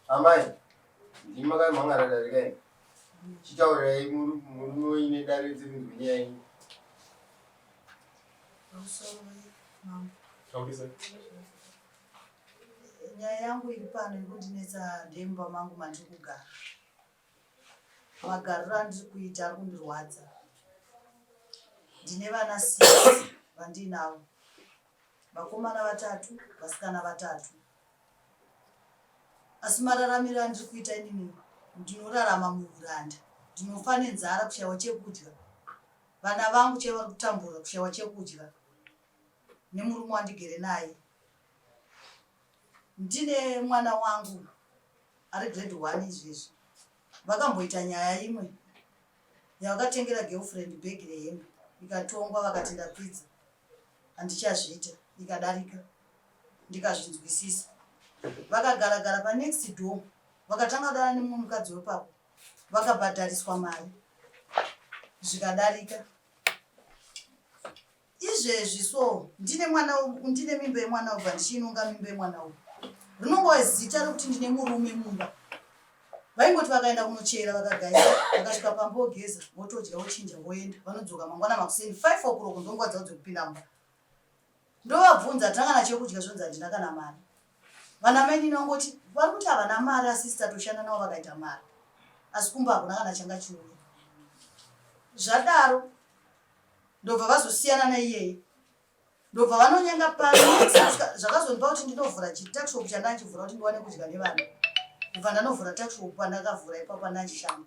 Amai, ndimi makamhan'ara dare kaini? Chitaurirai murume wenyu dare dzemunzwi nyaya yenyu. Nyaya yangu iri pano yekundinetsa ndemba mangu mandiri kugara. Magariro andiri kuita ari kundirwadza. Ndine vana six vandiinavo. vakomana vatatu vasikana vatatu asi mararamiro andiri kuita inini ndinorarama muuranda ndinofa nenzara kushayiwa chekudya vana vangu chaiva vari kutambura kushayiwa chekudya nemurume wandigere naye ndine mwana wangu ari grade one izvezvi vakamboita nyaya imwe yavakatengera girlfriend bhegi rehembe ikatongwa vakati ndapfidza handichazviita ndikadarika ndikazvinzwisisa vakagara gara pa next door vakatanga kudana nemumwe mukadzi wepapo vakabhadhariswa mari zvikadarika izvezvi so ndine mwana ndine mimba yemwana ubva ndichiinonga mimba yemwana uyu rinongova zita rekuti ndine murume mumba vaingoti vakaenda kunochera vakagaisa vakasvika pamba ogeza votodya vochinja voenda vanodzoka mangwana makuseni 5 okuroko ndonguva dzavo dzekupinda mumba ndovabvunza tanga nachekudya zvonzi handina kana mari vana mainini vangoti vari kuti havana mari asisi tatoshanda navo vakaita mari asi kumba hakuna kana changa chiuya zvadaro ndobva vazosiyana neiyeye ndobva vanonyenga pano zvakazondipa kuti ndinovhura chitaxop chandachivhura kuti ndiwane kudya nevana ndobva ndanovhura taxop pandakavhura ipapo andachishama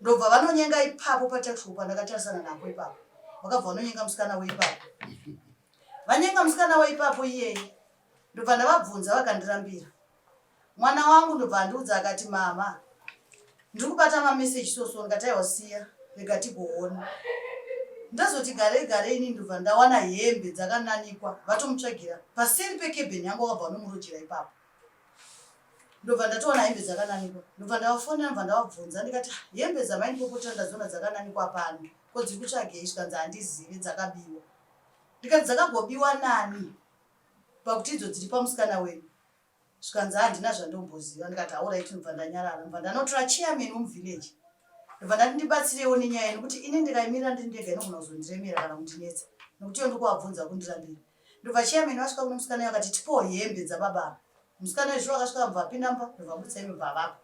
ndobva vanonyenga ipapo pataxop pandakatarisana napo ipapo vakabva vanonyenga musikana weipapo vanyenga musikana weipapo iyeye ndobva ndavabvunza vakandirambira Mwana wangu ndobva andiudza akati mama ndiri kubata mameseji so so ndikati aiwa siya rega tigoona ndazoti garei garei ini ndobva ndawana hembe dzakananikwa vatomutsvagira paseri pekebheni yangu akabva anomurojera ipapo ndobva ndatowana hembe dzakananikwa ndobva ndavafonera ndobva ndavabvunza ndikati ah, hembe dzamaindipopota ndazoona dzakananikwa pano ko dziri kutsvagei zvikanzi handizivi dzakabiwa ndikati dzakagobiwa nani pakuti idzo dziri pamusikana wenyu zvikanzi handina zvandomboziva ndikati aurai tinobva ndanyarara ndobva ndanotora chairman wemuvillage ndobva ndati ndibatsireiwo nenyaya yenu kuti ini ndikaimirira ndiri ndega inogona kuzondiremera kana kundinetsa nokuti iyo ndikuwabvunza kundirambira ndobva chairman vasvika kuno musikana vakati tipowo hembe dzababa ava musikana wezviro vakasvika vamva pinamba ndobva mutsa imi bva vapa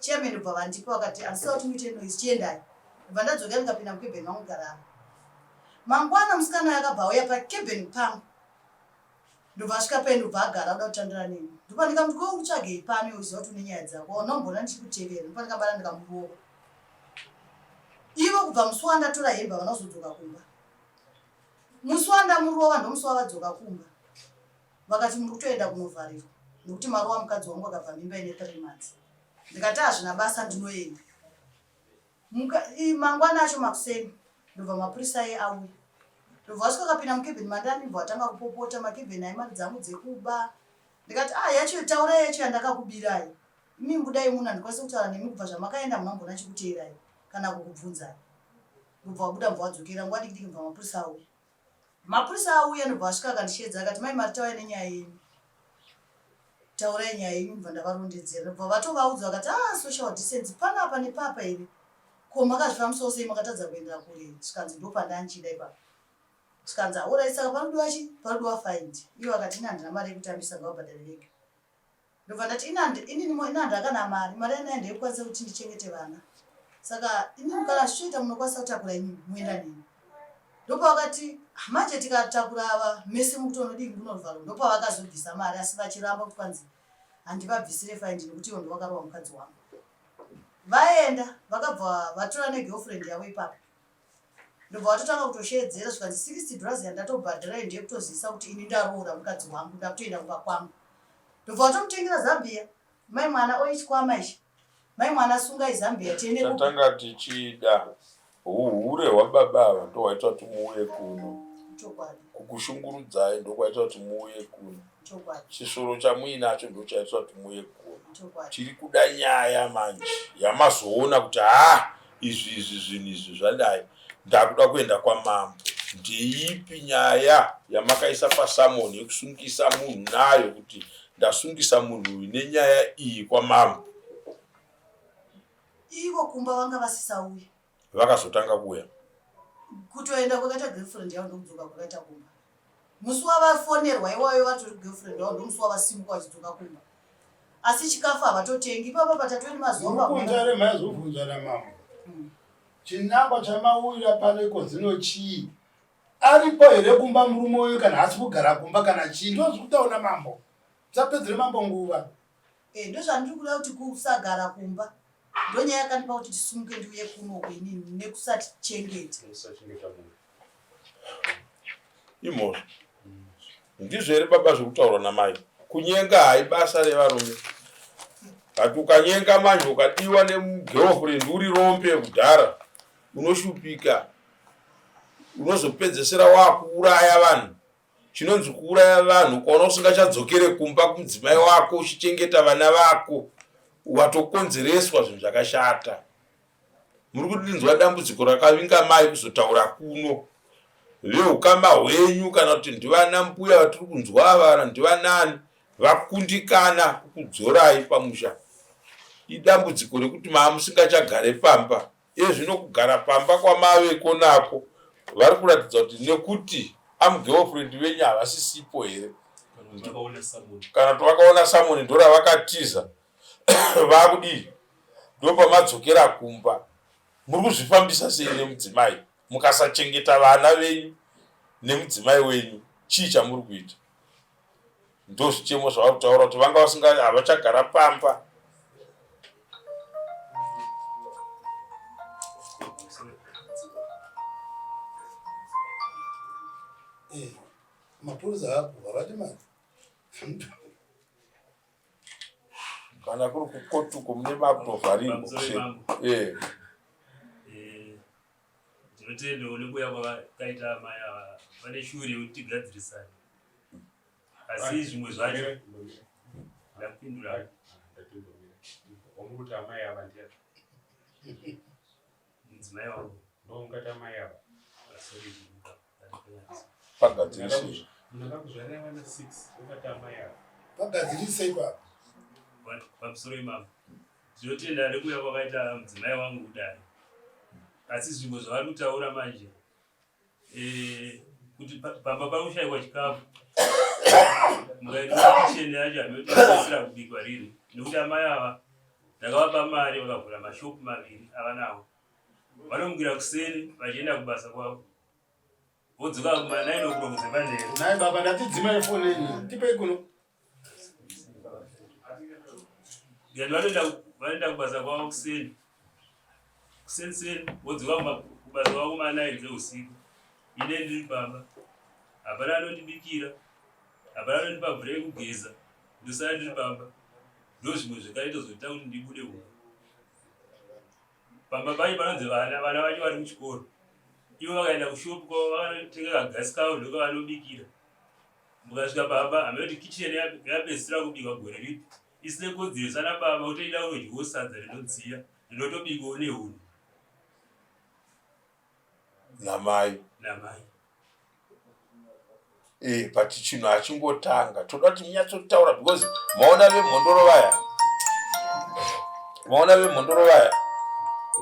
chairman ndobva vandipa vakati andisava kuti muite noise chiendai ndobva ndadzoka ndikapinda mukebheni vangu karara mangwana musikana yakabva auya pakebheni pangu Ndobva asvika peni ndobva agara oda kutandara neni. Ndobva ndikamuti ko ukutsvagei pano iwe uchiziva kuti une nyaya dzako waunomboona ndichikutevera. Ndobva ndikabata ndikamuruoko. Ivo kubva musi wandatora hembe havana kuzodzoka kumba. Musi wandamurova ndomusi wavadzoka kumba. Vakati muri kutoenda kunovharirwa nekuti marova mukadzi wangu akabva mimba ine 3 months. Ndikati hazvina basa ndinoenda. mangwana acho makuseni ndobva mapurisa aye auya ndobva vasvika kapinda mukevheni mandani bva vatanga kupopota makevheni aimari dzangu dzekuba ndikati a ah, yacho taurai yacho yandakakubirai imi mbudai muno handikwanisi kutaura nemi kubva zvamakaenda munambona chikuteerai kana kukubvunzai ndobva wabuda mva wadzokera nguva dikidiki mva mapurisa auya Mapurisa auya ndobva asvika akandisheedza akati mai Marita auya nenyaya yenyu taurai nyaya yenyu ndobva ndavarondedzera ndobva vatovaudza vakati ah social distance pano apa nepapa here ko makazvifambisawo sei makatadza kuendera kure zvikanzi ndopandanchida ipapa zvikanzi aorai saka panodiwa chi panodiwa find ivo akati ini handina mari yekutambisa ngavabhadhare vega ndobva ndati inini inandu akana mari mari yanaye ndeikwanisa kuti ndichengete vana saka inini kana zvichiita munokwanisa kutakura inini muenda neni ndopavakati ah, manje tikatakura ava mese mukuti unodii kunovharo ndopavakazobvisa mari asi vachiramba kuti kwanzi handivabvisire faindi nekuti ivo ndovakarowa mukadzi wangu vaenda vakabva vatora negirlfriend yavo ipapo ndobva watotanga kutosheedzera zvikanzi 60 dollars yandatobhadhirayo ndiye kutozivisa kuti ini ndaroora mukadzi wangu ndakutoenda kumba kwangu ndobva watomutengera zambia mai mwana oichikwama ichi mai mwana sungai zambia tiendetatanga tichida uhure hwababa ava ndohwaita kuti muuye kuno kukushungurudzai ndokwaita kuti muuye kuno chisvoro chamuinacho ndochaitwa kuti muye gona tiri kuda nyaya manje yamazoona kuti ha izvi izvi zvinhu izvi zvadai ndakuda kuenda kwamambo ndeipi nyaya yamakaisa pasamoni yekusungisa munhu nayo kuti ndasungisa munhu uyu nenyaya iyi kwamambo ivo kumba vanga vasisauya Vakazotanga kuuya. Kutoenda kwakaita girlfriend yavo ndokudzoka kwakaita kumba. Musi wavafonerwa iwayo vatori girlfriend wavo ndomusi wavasimuka vachidzoka kumba. Asi chikafu havatotengi ipapa patatori mazuva mavhunja remaizovhunja ramambo. Hmm. Chinangwa chamauyira pano iko zino chii? Aripo here kumba murume uyu kana hasi kugara kumba kana chii? Ndozvikudaona mambo. Musapedzere mambo nguva. Eh, ndozvandiri kuda kuti kusagara kumba ndonyaya yakandipa kuti tisumuke ndiuye kuno kwenini nekusati chengeta imhosva ndizvo here baba zvekutaurwa namai kunyenga haibasa revarume but ukanyenga manje ukadiwa nemugirlfriend uri rombe kudhara unoshupika unozopedzesera wakuuraya vanhu chinonzi kuuraya vanhu ukaona usingachadzokere kumba kumudzimai wako uchichengeta vana vako watokonzereswa zvinhu zvakashata muri kudinzwa dambudziko rakavinga mai kuzotaura kuno veukama hwenyu kana kuti ndivana mbuya vatiri kunzwa ava kana ndivanani vakundikana kukudzorai pamusha idambudziko rekuti maamusingachagare pamba Iye zvino kugara pamba kwamave ko nako vari kuratidza kuti nekuti amugirlfriend venyu havasisipo here kana kuti vakaona samoni ndoravakatiza vakudii ndopamadzokera kumba muri kuzvifambisa sei nemudzimai mukasachengeta vana venyu nemudzimai wenyu chii chamuri kuita ndozvichemo zvavari kutaura kuti vanga vasinga havachagara pamba eh, mapurisa apo havadi mari kana kuri kukotuko mune mabhovharirwo eh. Tinotenda nekuuya kwavakaita amai ava vane shuviro yekuti tigadzirisane, asi zvimwe zvacho ndakupindura wamukuti amai ava ndiya mudzimai wangu ndoungati amai ava pagadzirisei pagadzirisei pa pamusoro imama ndinotenda nekuuya kwakaita mudzimai wangu kudai asi zvimwe zvavari kutaura manje eh, kuti pamba pakushaiwa chikafu mukaitachene yacho hanotaisira kubikwa riri nekuti amai ava ndakavapa mari vakavhura mashopu maviri avanawo vanomukira kuseni vachienda kubasa kwavo vodzoka kumanaino kurokuze pandere nai baba ndatidzimai foni enyu tipei kuno ngati vanoenda vanoenda kubasa kwavo kuseni kuseni seni vodzoka kubasa kwavo kumanaini dzeusiku ine ndiri baba hapana anondibikira hapana anondipa mvura yekugeza ndosara ndiri baba ndozvimwe zvekaita zvoita kuti ndibude kuno Baba vacho vanonzi vana vana vacho vari kuchikoro ivo vakaenda kushopu kwavo vakanotenga kagasi kavo ndoka vanobikira mukasvika baba hamekuti kicheni yapedzisira kubikwa gore ripi isine kodzero sana baba utoida unodyiwo sadza rinodziya rinotobikwa une hunhu namai namai eh but chinhu hachingotanga toda kuti munyatsotaura because maona vemhondoro vaya maona vemhondoro vaya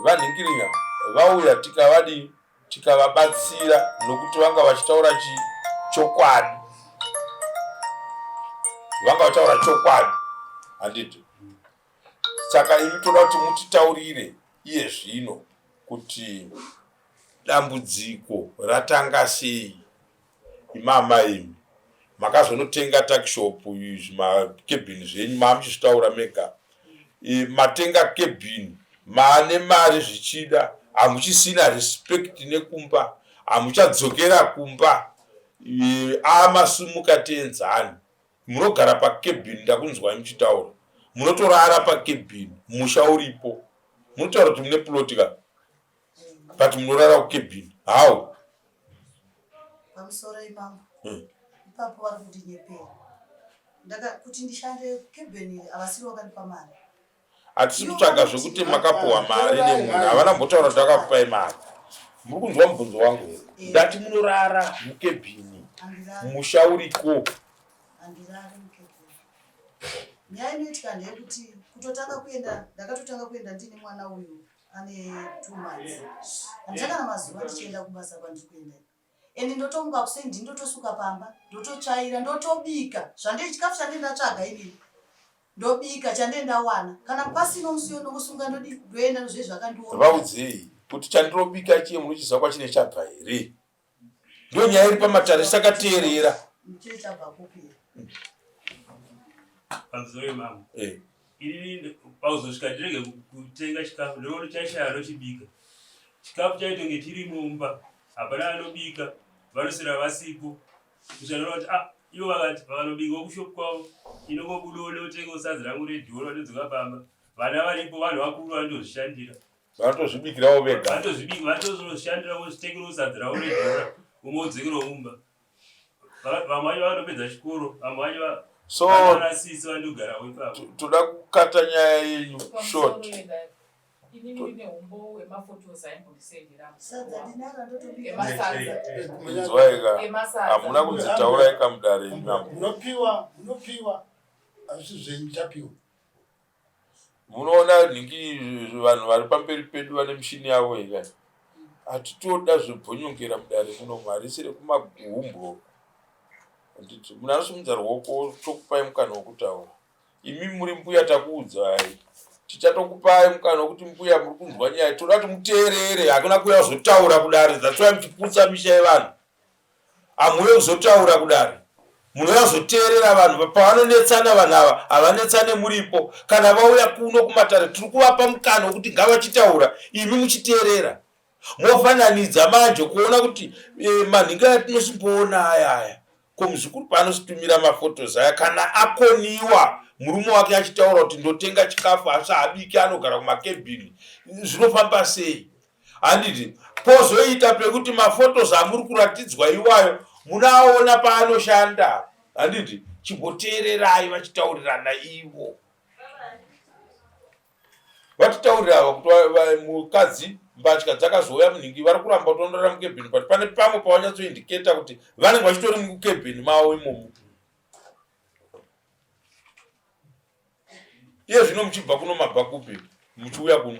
vanhingirinya vauya tikavadii tikavabatsira nokuti vanga vachitaura chii chokwadi vanga vachitaura chokwadi handiti saka imi toda kuti mutitaurire iye zvino kuti dambudziko ratanga sei imama imi makazonotenga takishop izvi makebhini zvenyu maamuchizvitaura mega e, matenga kebhini maane mari zvichida hamuchisina respect nekumba hamuchadzokera kumba e, amasumuka tienzani munogara pakebin ndakunzwai muchitaura munotorara pakebin musha uripo munotaura kuti mune ploti ka but munorara kukebin how pamusoro imamo hmm. ipapo vari kundinyepera kuti ndishande kebin iri havasiri vakandipa mari hatisi kutsvaga zvekuti makapuhwa mari nemunhu havana mbotaura kuti akakupai mari muri kunzwa mubvunzo wangu here ndati munorara mukebhini musha uriko nyaya inoitika ndeyekuti kutotanga kuenda ndakatotanga kuenda ndiine mwana uyu ane two months handisakana mazuva ndichienda kubasa kwandiri kuenda and ndotomuka kuseni ndini ndotosuka pamba ndototsvaira ndotobika zvandei chikafu chandei ndatsvaga inini ndobika chandei ndawana kana pasino musiyo ndokusunga ndodii ndoenda nozvei zvakandiona vaudzei kuti chandirobika chiye munochiziva kwachine chabva here ndo nyaya iri pamatare sakateerera eh. ini pauzosvika ndirege kutenga chikafu nekuti chaishaya anochibika chikafu chaitonge chiri mumba hapana anobika vanosera vasipo kuchanora kuti ah ivo vakati vakanobika kushop kwavo inongobuda onotenga usadzi rangu redhoro anodzoka pamba vana varipo vanhu vakuru vanotozvishandira vanotozvibikirawo vega vanotozvibika vanotozoshandira vozvitengera usadzi ravo redhora umwe odzekera umba vamwe vacho vanopedza chikoro vamwe vacho so toda kukata nyaya yenyu short inzwaika hamuna kunzitaurai kamudare inopiwa hazvisi zvenyu chapiwa munoona nhingi vanhu vari pamberi pedu vane mishini yavo ika hatitoda zvebhonyongera mudare muno harisi rekumagumbwo anditi munhu anosimudza ruoko tokupai mukana wekutaura imi muri mbuya takuudzai tichatokupai mukana wekuti mbuya muri kunzwa nyaya toda kuti muteerere hakuna kuya kuzotaura kudare that's why muchiputsa misha yevanhu Amuuye kuzotaura kudare munouya kuzoteerera vanhu pavanonetsana vanhu ava havanetsane muripo kana vauya kuno kumatare tiri kuvapa mukana wekuti ngavachitaura imi muchiteerera mofananidza manje kuona kuti e, eh, manhinga aya tinosimboona aya aya ko muzukuru paanositumira mafotos aya kana akoniwa murume wake achitaura kuti ndotenga chikafu asi haabiki anogara kumakebhini zvinofamba sei handiti pozoita pekuti mafotos amuri kuratidzwa iwayo munaona paanoshanda handiti chimboteererai vachitaurirana ivo vatitaurira ava kuti mukadzi mbatya dzakazouya munhingi vari kuramba kuti vanorara mukebheni but pane pamwe pavanyatsoindiketa kuti vanenge vachitori mukebheni mavo imomo iye zvino muchibva kuno mabva kupi muchiuya kuno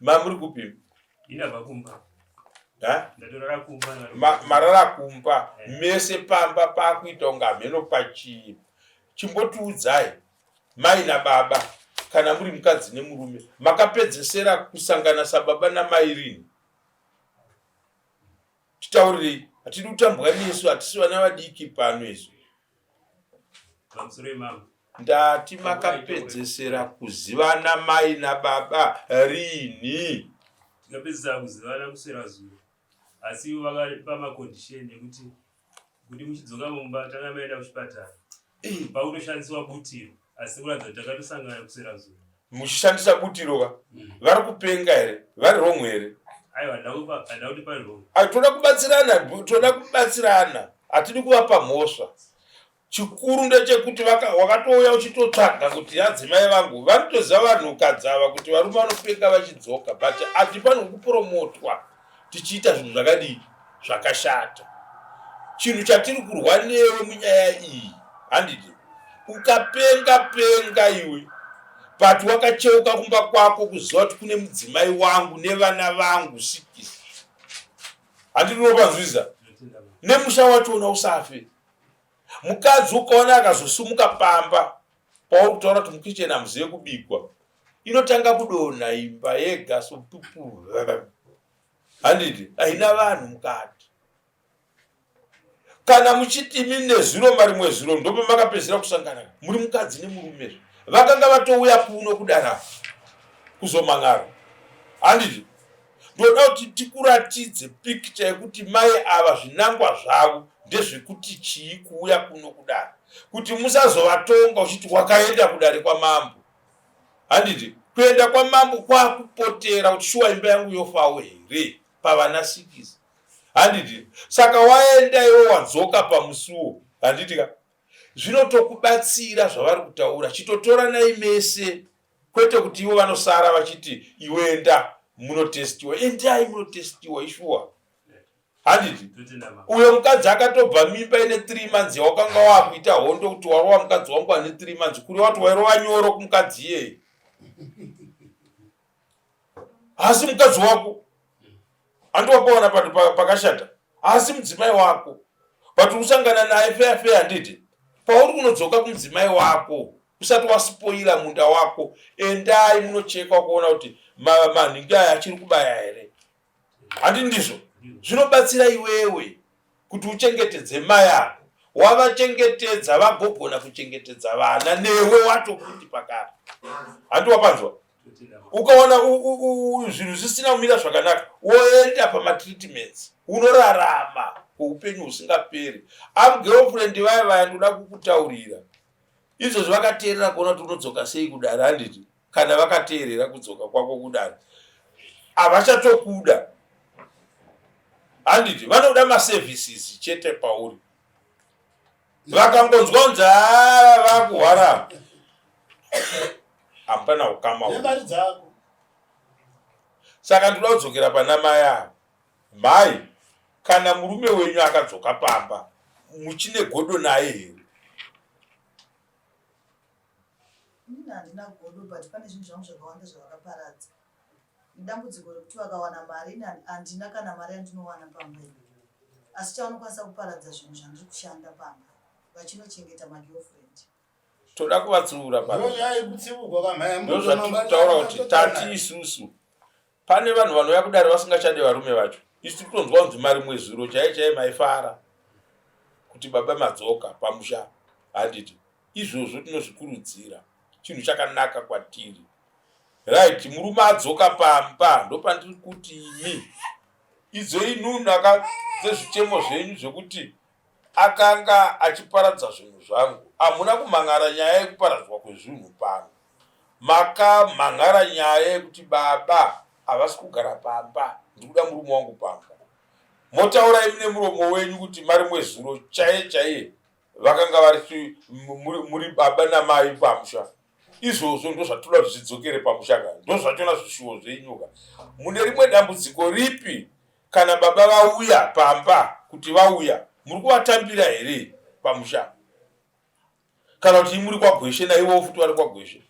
Ma muri kupi? Ndava kumba. Ha? Ndatorara kumba. Ma, marara kumba. Eh. Mese pamba pakuita unga mheno pachii. Chimbotiudzai mai na baba kana muri mukadzi nemurume makapedzesera kusangana sababa namai rini? Titaurirei. Hatidi kutambwa nesu hatisi vana vadiki pano isu. ndati makapedzesera kuzivana mai nababa rini tikapedzesera kuzivana kuswera zuva asi ivo vakapa macondition ekuti kuti muchidzoka mumba tanga maenda kuchipatara pakutoshandiswa butiro asi kuratidza kuti takatosangana kuswera zuva muchishandisa butiro ka mm. vari kupenga here vari wrong here toda kubatsirana toda kubatsirana hatidi kuvapa mhosva chikuru ndechekuti wakatouya uchitotsvaga kuti yadzimai vangu vanotoziva vanhukadzi ava kuti varume vanopenga vachidzoka but ati pano kupromotwa tichiita zvinhu zvakadii zvakashata chinhu chatiri kurwa newe munyaya iyi handiti ukapenga penga iwe but wakacheuka kumba kwako kuziva kuti kune mudzimai wangu nevana vangu sikisi handinopanzwiza nemusha wachona usafe mukadzi ukaona akazosumuka pamba pauri kutaura kuti mukicheni hamuzive kubigwa inotanga kudonha imba yega sotupu handiti haina vanhu mukati kana muchiti imi nezuro marimwe zuro ndopo makapedzisira kusangana muri mukadzi nemurume zve vakanga vatouya kuno kudana kuzoman'ara handiti ndoda kuti tikuratidze pikicha yekuti mai ava zvinangwa zvavo ndezvekuti chii kuuya kuno kudana kuti musazovatonga uchiti wakaenda kudare kwamambo handiti kuenda kwamambo kwakupotera kuti shuwa imba yangu yofawo here pavana sikisi handiti saka waenda iwe wadzoka pamusuwo handiti ka zvinotokubatsira zvavari kutaura chitotoranai mese kwete kuti ivo vanosara vachiti iwenda munotestiwa endai munotestiwa ishuwa handiti uyo mukadzi akatobva mimba ine three months yawakanga wakuita hondo kuti warova mukadzi wangu ane three months kuri wati wairova nyoro kumukadzi iyeye haasi mukadzi wako handi wakaona pati pakashata haasi mudzimai wako but usangana naye feya feya handiti pauri kunodzoka kumudzimai wako usati waspoila munda wako endai munochekwa kuona kuti manhingi aya achiri kubaya here handi ndizvo zvinobatsira iwewe kuti uchengetedze mai ako wavachengetedza vagogona kuchengetedza vana newe watokuti pakati handi wapanzwa ukaona zvinhu zvisina kumira zvakanaka woenda pamatreatments unorarama kweupenyu husingaperi amgirlfriend vaya vaya ndoda kukutaurira Izvozvi vakateerera kuona kuti unodzoka sei kudare handiti kana vakateerera kudzoka kwako kudare havachatokuda handiti vanoda maservices chete pauri vakangonzwa kunzi haa ah, vakuhwara hapana ukama saka ndinodzokera pana mai avo Mai, kana murume wenyu akadzoka pamba muchine godo naye here? Ini handina godo but pane zvinhu zvangu zvakawanda zvavakaparadza. Idambudziko rekuti vakawana mari ini handina kana mari yandinowana pamba iyi. Asi chavanokwanisa kuparadza zvinhu zvandiri kushanda pamba vachinochengeta magirlfriend. Toda kuvatsiura pamba. Ndozvaikutsiurwa kamhaya. Ndozvatitaura kuti tati isusu. Pane vanhu vanouya kudare vasingachade varume vacho. Isu tiri kutonzwa kunzi mari mwezuro chaiye chaiye maifara kuti baba madzoka pamusha handiti izvozvo tinozvikurudzira chinhu chakanaka kwatiri right murume adzoka pamba ndopandiri kuti imi idzoi nunu aka dzezvichemo zvenyu zvekuti Akanga achiparadza zvinhu zvangu. Hamuna kumhan'ara nyaya yekuparadzwa kwezvinhu pano. Makamhan'ara nyaya yekuti baba havasi kugara pamba, ndiri kuda murume wangu pamba. Motaura imi nemuromo wenyu kuti mari mwezuro chaiye chaiye vakanga vari muri baba namai pamusha izvozvo ndozvatoda kuti zvidzokere pamushaka ndozvachona zvishuwo zvenyuka mune rimwe dambudziko ripi Kana baba vauya pamba kuti vauya muri kuvatambira here pamusha kana kuti imuri kwagweshe naivowo futi vari kwagweshe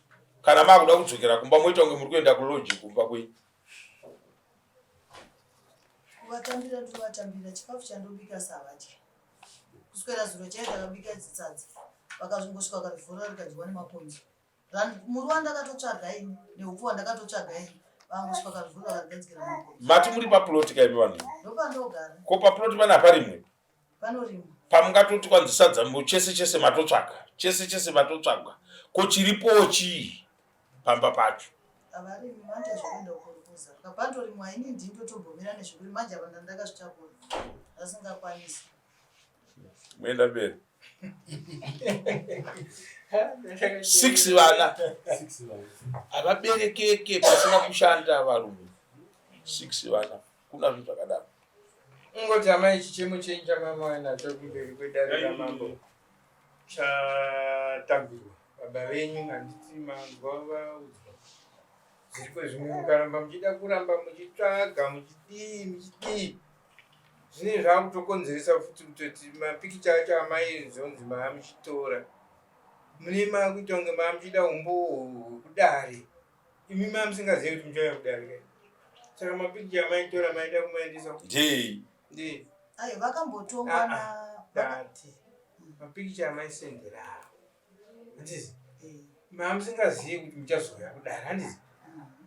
kana makuda kudzokera kumba moita kunge muri kuenda kuloji kumba kwenyu kuvatambira ndovatambira chikafu chandobika savadya kuswera zuro chaye takabika dzitsadza vakazongosvika vakarivhura rikadyiwa nemakonzo muriwo wandakatotsvaga ini neupfu wandakatotsvaga ini mati muri paploti kaimi vanhu ko paploti pane apa rimwe pamungatoti kwanzi sadza mbo chese chese matotsvaga chese chese matotsvaga ko chiripowo chii pamba pacho moenda mberi six vana havaberekeke pasina kushanda varume six vana kuna zvinhu zvakadaro ungoti amai chichemo chenyu chamamauya nacho kumberi kwedare ramambo chatambirwa baba venyu handiti manzwa vaudzwa zviriko zvimwe mukaramba muchida kuramba muchitsvaga muchidii muchidii zvinenge zvakutokonzeresa futi kutoti mapikicha acho amai zvonzi maamuchitora mune maakuita kunge maamuchida umbowo hwekudare imi maamusingazivi kuti muchauya kudare kai saka mapikicha amaitora maida kumaendesa ndei ndei ayo vakambotongwa na dati mapikicha amaisenderao handizi mamusingazivi kuti muchazouya kudara handizi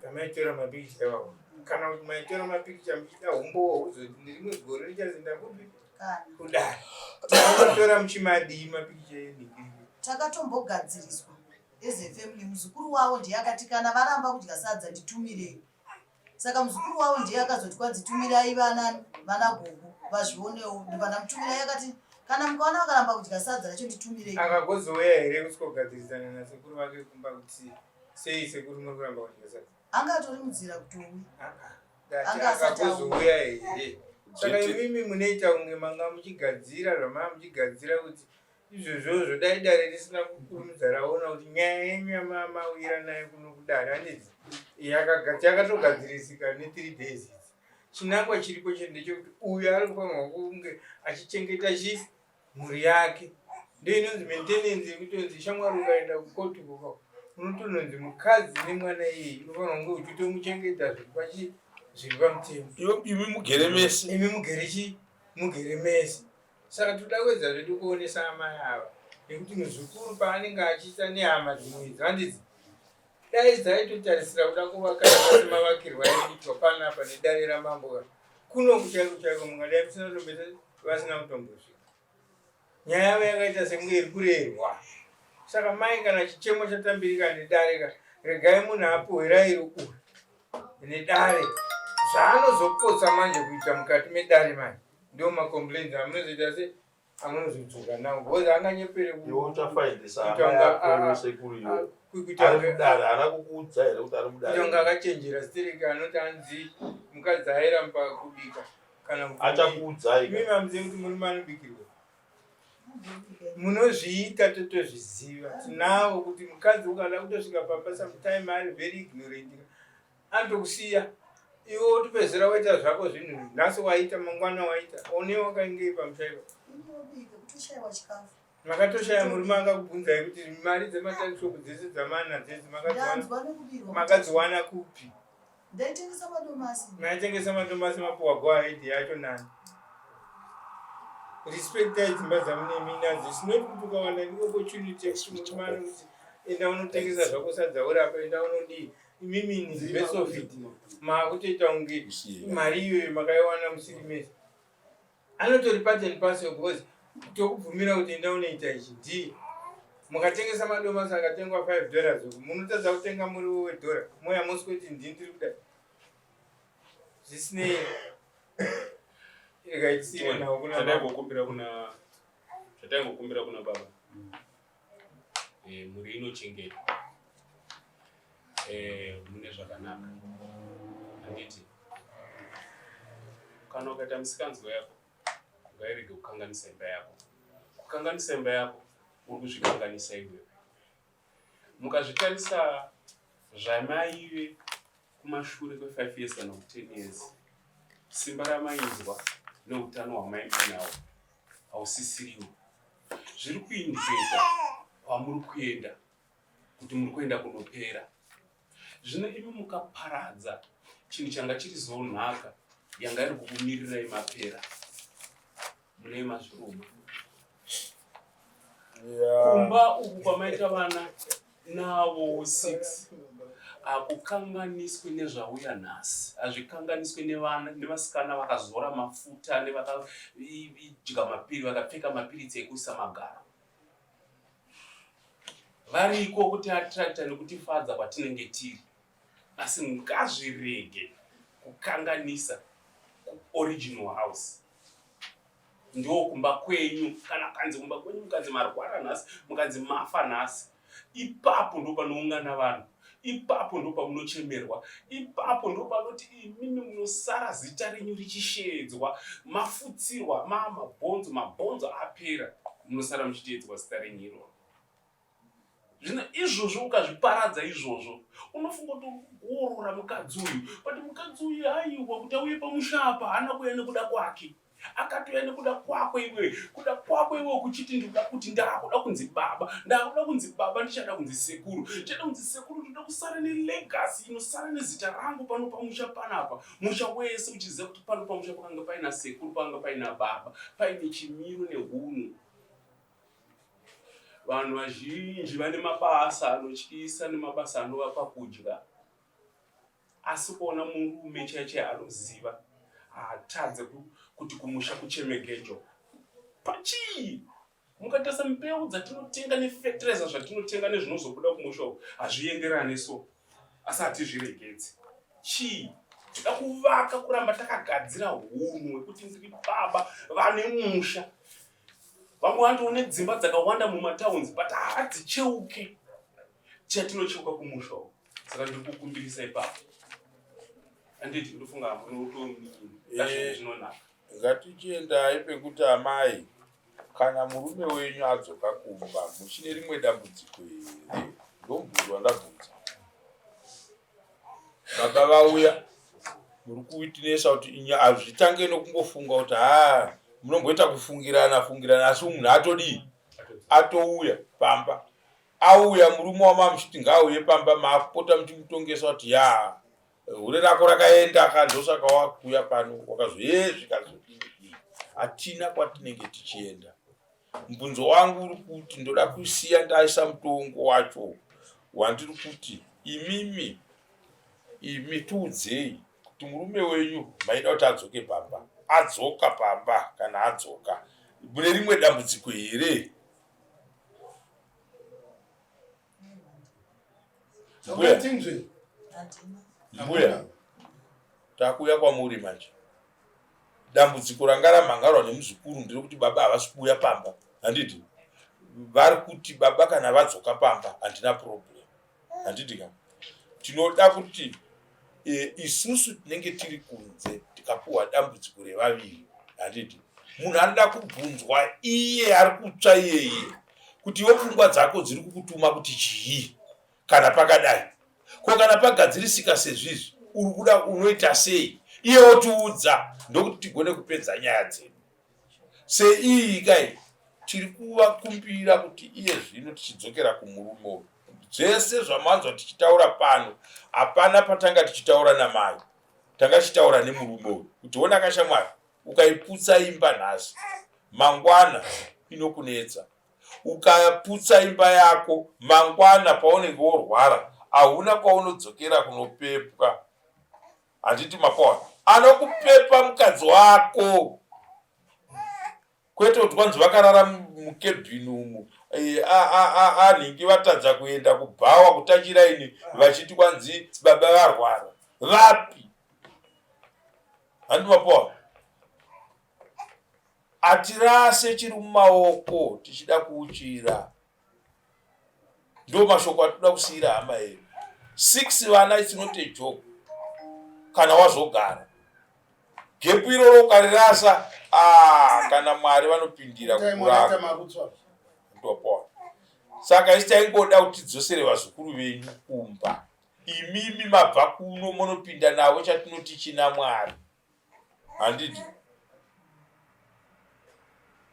kamaitora mapikicha iwawo kana kuti maitora mapikicha muchida humbowo huzoti nerimwe gore richazinda kupi kudara takatora muchimadii mapikicha enii takatombogadziriswa as a family muzukuru wavo ndiye akati kana varamba kudya sadza nditumirei saka muzukuru wavo ndiye akazoti kwanzi tumirai vana vana gogo vazvionewo ndibana mutumirai akati kana mukaona vakaramba kudya sadza racho nditumirei akagozouya here kuti kogadzirisana nasekuru vake kumba kuti sei sekuru muri kuramba kudya sadza anga atori mudzira kutowi anga asatauya here saka imimi munoita kunge manga muchigadzira zvamanga muchigadzira kuti izvozvozvo dai dare risina kukurumidza raona kuti nyaya yenyu yamamawira nayo kuno kudare anditi yakatogadzirisika ne3 days idzi chinangwa chiripo chete ndechekuti uyu ari kufanirwa kunge achichengeta chi mhuri yake ndo inonzi maintenance yekutonzi shamwari ukaenda kukoti koko unotononzi mukadzi nemwana iyeye unofanirwa kunge uchitomuchengeta zviri pachi zviri pamutemo imi mugere mese imi mugere chi mugere mese Saka toda kuedza zvedu kuonesa amai ava nekuti muzukuru paanenge achiita nehama dzimwe idzi vandidzi dai dzaitotarisira kuda kuvaka asi mavakirwa aitwa panapa nedare ramambo kuno kuchaiko chaiko mungadai musina kutombeta vasina kutombosvika nyaya yavo yakaita sekunge iri kurerwa saka mai kana chichemo chatambirika nedare ka regai munhu apohwerairi uyu nedare zvaanozopotsa manje kuita mukati medare manje Ndio ma complaints amunozoita se amunozodzoka nawo because anganyepere kutonga akachenjera stereki anoti anzi mukadzi airamba kubika kana achakuudzai mimi amuzivi kuti murume anobikirwa munozviita totozviziva tinawo kuti mukadzi ukada kutosvika papa sometime ari very ignorant anotokusiya iwe wotopedzera waita zvako zvinhu nhasi waita mangwana waita one wakaingei pamushaiwa makatoshaya murume akakubvunzai kuti mari dzematakishop dzese dzamana dzese makadziwana kupi maitengesa madomasi mapuwa goahead yacho nani respectai dzimba dzamuneminadzo sinoti kuti ukawana opportunity yekuti murume anokuti enda unotengesa zvako sadzaurapa enda unodii imimi nzivesofi maakutoita kunge mari iyoyo makaiwana musiri mese anotori part and parcel because tokubvumira kuti enda unoita ichi ndiye mukatengesa madomasi akatengwa five dollars uku munotadza kutenga muriwo wedhora moya mosi kuti ndini tiri kuda zvisinei rega itsire nawo kunaa zvataingokumbira kuna baba e, mhuri inochengetwa e, mune zvakanaka handiti kana ukaita misikanzwa yako ngairege kukanganisa imba yako kukanganisa imba yako uri kuzvikanganisa iwe mukazvitarisa zvamaive kumashure kwefive years kana kutenees simba ramainzwa neutano hwamainzwa nawo hausisiriwo zviri kuindiketa kwamuri kuenda kuti muri kuenda kunopera zvino imi mukaparadza chinhu changa chiri zonhaka yanga iri kukumirirai mapera mune mazviruma kumba uku kwamaita vana Nawo six hakukanganiswi nezvauya nhasi hazvikanganiswi nevana nevasikana vakazora mafuta nevakadya mapiri vakapfeka mapiritsi ekuisa magaro variko kuti atrakta nekutifadza kwatinenge tiri asi ngazvirege kukanganisa kuoriginal house ndo kumba kwenyu kana kanzi kumba kwenyu mukanzi marwara nhasi mukanzi mafa nhasi ipapo ndo panoungana vanhu ipapo ndo pamunochemerwa ipapo ndo panoti imimi munosara zita renyu richisheedzwa mafutsirwa maa mabhonzo mabhonzo apera munosara muchiteedzwa zita renyu iroro zvino izvozvo ukazviparadza izvozvo unofunga kuti urikuorora mukadzi uyu but mukadzi uyu aiwa kuti auye pamusha apa haana kuuya nekuda kwake akatouya nekuda kwako iwe kuda kwako iwe kuchiti ndikuda kuti ndakuda kunzi baba ndakuda kunzi baba ndichada kunzi sekuru ndichada kunzi sekuru ndikuda kusara nelegasi inosara nezita rangu pano pamusha panapa musha wese uchiziva kuti pano pamusha pakanga paina sekuru pakanga paina baba paine chimiro nehunhu Vanhu vazhinji vane mabasa anotyisa nemabasa anovapa kudya, asi kuona murume chaiye chaiye anoziva haatadze kuti kumusha kuchemegejo pachii mukatarisa mbeu dzatinotenga nefetireza zvatinotenga nezvinozobuda kumusha uku hazvienderane so asi hatizviregedzi chii tida kuvaka kuramba takagadzira hunhu hwekuti ndiri baba vane musha Vamwe vanoti une dzimba dzakawanda mumatowns but hadzicheuke chatinocheuka kumusha uko. Saka ndiri kukumbirisa ipapo. Anditi ndofunga hambo unotonini. Kazvinhu zvinonaka. Ngatichiendai pekuti amai kana murume wenyu adzoka kumba muchine rimwe dambudziko here ndomubvunzo wandabvunza baba vauya muri kuitinesa kuti hazvitange nokungofunga kuti haa munomboita kufungirana fungirana asi munhu atodii atouya pamba auya murume wamamuchiti ngaauye pamba maakupota muchimutongesa kuti ya hure rako rakaenda ka ndosaka wakuuya pano wakazoyezvikazodii hatina kwatinenge tichienda Mubvunzo wangu uri kuti ndoda kusiya ndaisa mutongo wacho wandiri kuti imimi imi tiudzei kuti murume wenyu maida kuti adzoke pamba adzoka pamba kana adzoka mune rimwe dambudziko here mbuya takuuya kwamuri manje dambudziko ranga ramhangarwa nemuzukuru ndiri kuti baba havasi kuuya pamba handiti vari kuti baba kana vadzoka pamba handina problem handiti ka tinoda kuti e, isusu tinenge tiri kunze tikapuhwa dambudziko revaviri handiti munhu anoda kubvunzwa iye ari kutsva iyeye kuti iwo pfungwa dzako dziri kukutuma kuti chii kana pakadai ko kana pagadzirisika sezvizvi uri kuda unoita sei iye otiudza ndokuti tigone kupedza nyaya dzedu seiyi kai tiri kuvakumbira kuti iye zvino tichidzokera kumurume uyu zvese zvamanzwa tichitaura pano hapana patanga tichitaura namai tanga tichitaura nemurume uyu kuti ona kashamwari ukaiputsa imba nhasi mangwana inokunetsa ukaputsa imba yako mangwana paunenge worwara hauna kwaunodzokera kunopepwa handiti mapoa anokupepa mukadzi wako kwete kuti kwanzi vakarara mukebhini umu eh, anhingi vatadza kuenda kubhawa kutachira ini vachiti kwanzi baba varwara vapi handi mapoa atirase chiri mumaoko tichida kuuchira ndo mashoko atinoda kusiira hama yedu six vana it's not a joke kana wazogara gepu iroro ukarirasa ah, kana mwari vanopindira kukurara ndopona saka isi taingoda kuti tidzosere vazukuru venyu kumba imimi mabva kuno monopinda navo chatinoti china mwari handidi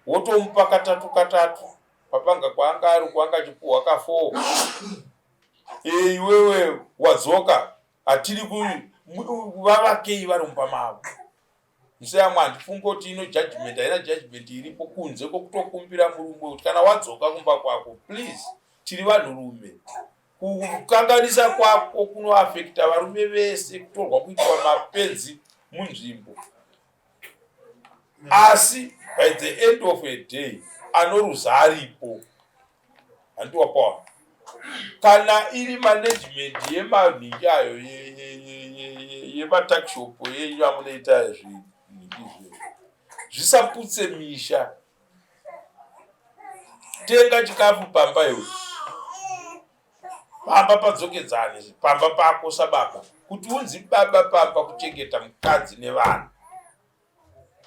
wotomupa katatu katatu pabanga kwaanga ari kwaanga achipuhwa ka four e iwewe wadzoka hatiri vavakei vari mumba mavo museyamwe handifunge kuti ino judgment haina judgment iripo kunze kwokutokumbira murume kuti kana wadzoka kumba kwako please tiri vanhurume Kukanganisa kwako kunoafekita varume vese, kutorwa kuitwa mapenzi munzvimbo. Asi by the end of a day anoruza aripo. Hanti wapawa kana iri management yemanhingi ayo yematakishopu yenyu amunoita zvinhingi zve zvisaputse misha tenga chikafu pamba iwe pamba padzokedzani pamba pako sababa kuti unzi baba pamba kuchengeta mukadzi nevanhu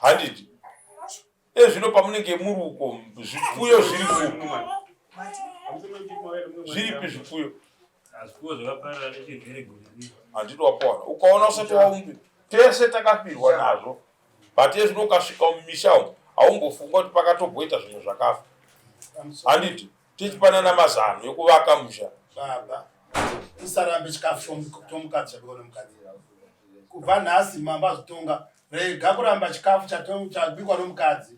handiti ezvino pamunenge muri uko zvipfuyo zviri kupi zviripi zvipfuyo handiti wapoana ukaona usati waumbi tese takafirwa nazvo but ezvino ukasvika mumisha umu haumbofunga kuti pakatomboita zvimwe zvakafa handiti tichipanana mazano yekuvaka musha baba tisarambe chikafu tomukadzi chakoo nomukadzi kubva nhasi mambo azotonga rega kuramba chikafu chabikwa nomukadzi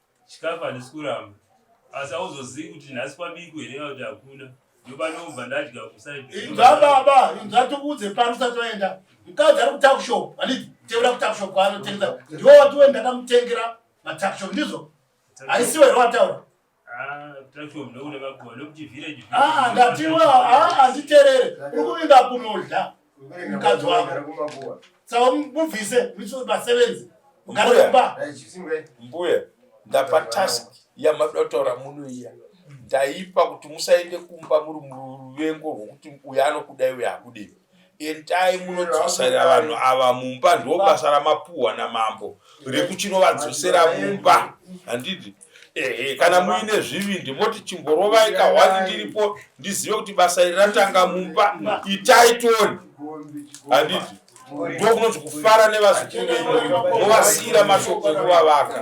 chikafu handisi kuramba asi auzozivi kuti nhasi kwabiku here kana kuti hakuna ndopanobva ndadya kusaibva baba inzva tiudze pano usati waenda mukadzi ari kutakushop handiti tevera kutakushop kwaanotengesa ndiwo watiwe ndakamutengera matakushop ndizvo haisiwo here wataura ah, ah, ndatiwe ah, handiterere uri kuvinga kunodla mukadzi wako saka mubvise muchiso basevenzi mugare kumba mbuya ndapa task yamadoda kutaura muno iya ndaipa kuti musaende kumba muri muruvengo rwokuti uyo anokudai uyo akudei endai munodzosera vanhu ava mumba ndobasa ramapuhwa namambo rekuchinovadzosera mumba handidi ehe kana muine zvivindi moti chimborovai kahwani ndiripo ndizive kuti basa iri ratanga mumba itai toni handiti ndokunoti kufara nevazukuru venyu movasiyira mashoko ekuvavaka